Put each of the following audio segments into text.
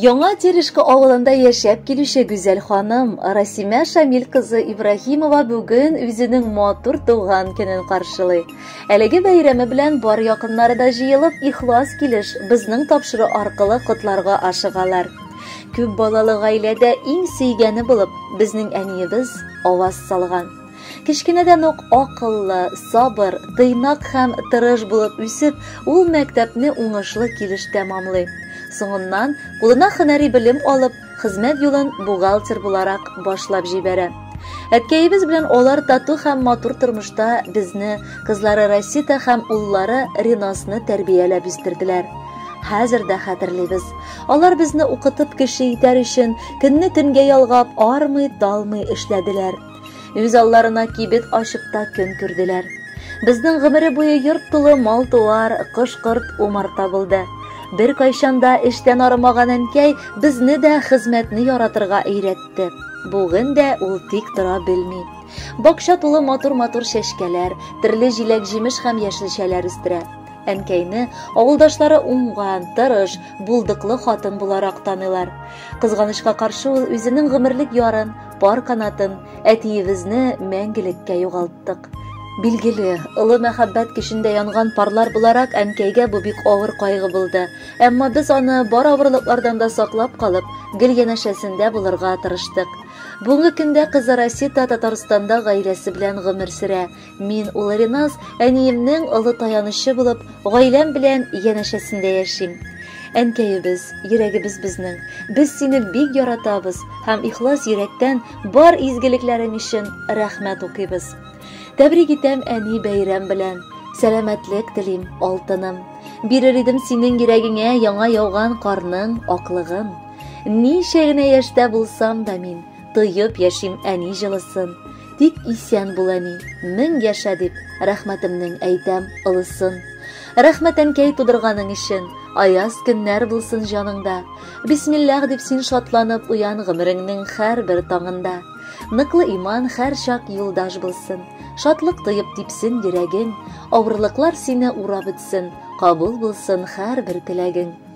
Яңа Терешка авылында яшәп килүче гүзәл ханым Расимә Шамил кызы Ибраһимова бүген үзенең матур туган көнен каршылый. Әлеге бәйрәме белән бар якыннары да җыелып, ихлас килеш, безнең тапшыру аркылы котларга ашыгалар. Күп балалы гаиләдә иң сөйгәне булып, безнең әниебез аваз салган. Кечкенәдән үк акыллы, сабыр, тыйнак һәм тырыш булып үсеп, ул мәктәпне уңышлы килеш тәмамлый. Соңыннан, кулына һөнәри белем алып, Хезмәт юлын бухгалтер буларак башлап җибәрә. Әткәебез белән алар тату һәм матур тормышта безне, кызлары Расита һәм уллары Ринасны тәрбияләп үстерделәр. Хәзер дә хәтерлибез. Алар безне укытып кеше итәр өчен көнне төнгә ялгап, армый, талмый эшләделәр. Үз алларына кибет ачып та көн күрделәр. Безнең гомере буе йорт тулы мал-туар, кош-корт, умарта булды. Бер кайчанда эштән арымаган әнкәй безне дә хезмәтне яратырга өйрәтте. Бүген дә ул тик тора белми. Бакча тулы матур-матур чәчкәләр, төрле җиләк-җимеш һәм яшелчәләр үстерә. Әнкәйне авылдашлары уңган, тырыш, булдыклы хатын буларак таныйлар. Кызганычка каршы ул үзенең гомерлек ярын, Пар канатын, әтиебезне мәңгелеккә югалттык. Билгеле, олы мәхәббәт көчендә янган парлар буларак әнкәйгә бу бик авыр кайгы булды. Әмма без аны бар авырлыклардан да саклап калып, гел янәшәсендә булырга тырыштык. Бүгенге көндә кызы Расита Татарстанда гаиләсе белән гомер сөрә. Мин улы Риназ әниемнең олы таянычы булып, гаиләм белән янәшәсендә яшим. Әнкәебез, йөрәгебез безнең. Без сине бик яратабыз һәм ихлас йөрәктән бар изгелекләрең өчен рәхмәт укыйбыз. Тәбрик итәм әни бәйрәм белән. Сәламәтлек телим, алтыным. Бирер идем синең йөрәгеңә яңа яуган карның аклыгын. Ничә генә яшьтә булсам да мин, Тоеп яшим әни җылысын, Тик исән бул әни, мең яшә дип, Рәхмәтемнең әйтәм олысын. Рәхмәт әнкәй тудырганың өчен, Аяз көннәр булсын җаныңда. Бисмиллах дип син шатланып уян Гомереңнең һәрбер таңында. Ныклы иман һәрчак юлдаш булсын, Шатлык тоеп типсен йөрәгең, Авырлыклар сине урап үтсен, Кабул булсын һәрбер теләгең.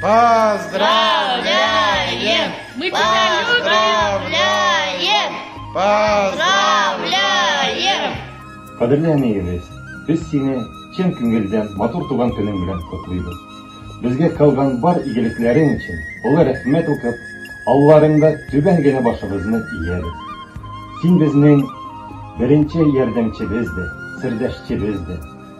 Поздравляем! Мы тебя Поздравляем! Поздравляем! Кадерле әниебез, без сине чын күңелдән матур туган көнең белән котлыйбыз. Безгә калган бар игелекләрең өчен олы рәхмәт укып, алларыңда түбән генә башыбызны иябез. Син безнең беренче ярдәмчебез дә, сердәшчебез дә.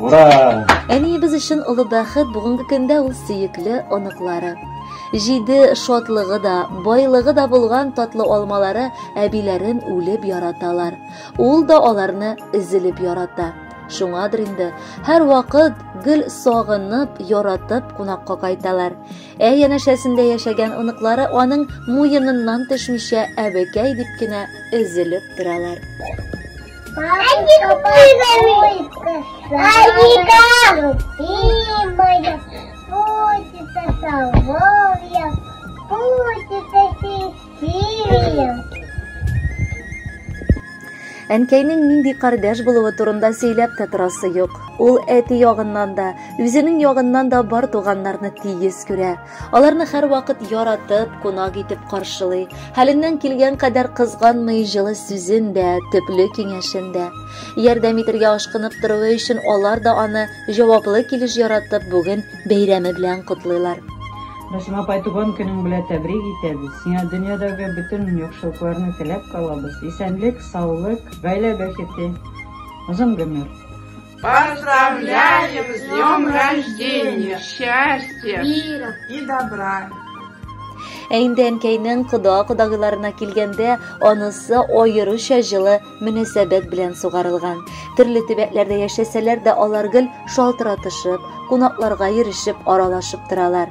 Ура! Әниебез өчен олы бәхет бүгенге көндә ул сөекле оныклары. Җиде шатлыгы да, байлыгы да булган татлы алмалары әбиләрен үлеп яраталар. Ул да аларны өзелеп ярата. Шуңадыр инде, һәр вакыт гел сагынып, яратып кунакка кайталар. Ә янәшәсендә яшәгән оныклары аның муеныннан төшмичә әбекәй дип кенә өзелеп торалар. Әнкәйнең нинди кардәш булуы турында сөйләп тә торасы юк. Ул әти ягыннан да, үзенең ягыннан да бар туганнарны тигез күрә. Аларны һәрвакыт яратып, кунак итеп каршылый, хәленнән килгән кадәр кызганмый, җылы сүзен дә, төпле киңәшен дә. Ярдәм итергә ашкынып торуы өчен алар да аны җаваплы килеш яратып, бүген бәйрәме белән котлыйлар. Расим апай, туган көнең белән тәбрик итәбез. Сиңа дөньядагы бөтен яхшылыкларны теләп калабыз. Исәнлек, саулык, гаилә бәхете, озын гомер. Поздравляем с днем рождения, счастья, мира и добра. Ә инде әнкәйнең кода кодагыларына килгәндә, анысы аеруча җылы мөнәсәбәт белән сугарылган. Төрле төбәкләрдә яшәсәләр дә алар гел шалтыратышып, кунакларга йөрешеп, аралашып торалар.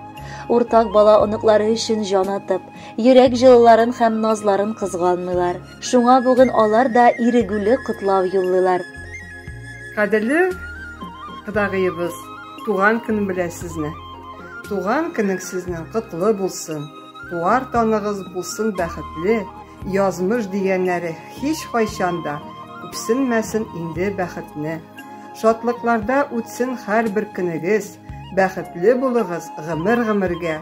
Уртак бала оныклары өчен җан атып, йөрәк җылыларын һәм назларын кызганмыйлар. Шуңа бүген алар да ирегүле котлау юллыйлар. Кадерле кодагыебыз, туган көн белән сезне. Туган көнең сезнең котлы булсын. Туар таныгыз булсын бәхетле. Язмыш дигәннәре һич кайчан да күпсенмәсен инде бәхетне. Шатлыкларда үтсен һәрбер көнегез. Бәхетле булыгыз гомер-гомергә.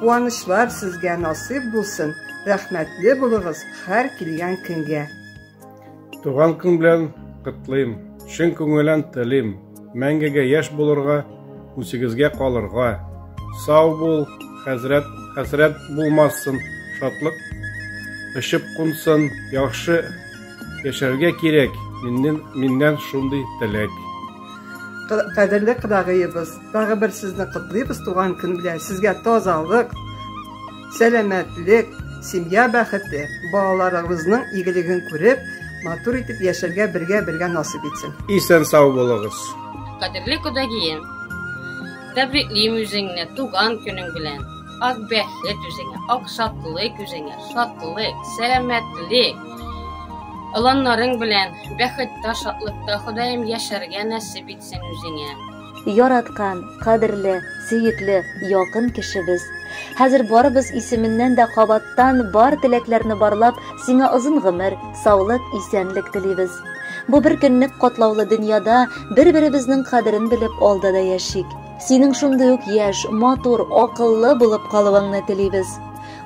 Куанычлар сезгә насыйп булсын, рәхмәтле булыгыз һәр килгән көнгә. Туган көн белән котлыйм, чын күңелән телим, мәңгегә яшь булырга, үсегезгә калырга. Сау бул, хәзрәт, хәсрәт булмасын, шатлык очып кунсын, яхшы яшәргә кирәк, миннән, миннән шундый теләк. Кадерле кыдагыебыз, тагы бер сезне котлыйбыз туган көн белән. Сезгә тазалык, сәламәтлек, семья бәхете, балаларыгызның игелеген күреп, матур итеп яшәргә бергә бергә насып итсен. Исән сау булыгыз. Кадерле кодагием, тәбриклим үзеңне туган көнең белән. Ак бәхет үзеңә, ак шатлык үзеңә, шатлык, сәламәтлек. Оланнарың белән, бәхеттә, шатлыкта, Ходаем, яшәргә нәсеп итсен үзеңә. Яраткан, кадерле, сөекле, якын кешебез! Хәзер барыбыз исеменнән дә кабаттан бар теләкләрне барлап, сиңа озын гомер, саулык, исәнлек телибез. Бу бер көнлек катлаулы дөньяда бер-беребезнең кадерен белеп алда да яшик. Синең шундый ук яшь, матур, акыллы булып калуыңны телибез.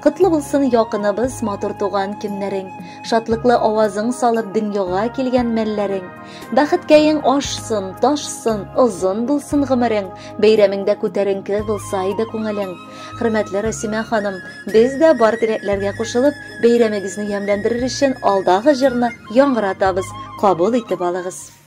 Котлы булсын якыныбыз матур туган көннәрең, шатлыклы авазың салып дөньяга килгән мәлләрең. Бәхеткәең ашсын, ташсын, озын булсын гомерең, бәйрәмеңдә күтәренке булса иде күңелең. Хөрмәтле Расимә ханым, без дә бар теләкләргә кушылып, бәйрәмегезне ямьләндерер өчен алдагы җырны яңгыратабыз. Кабул итеп алыгыз.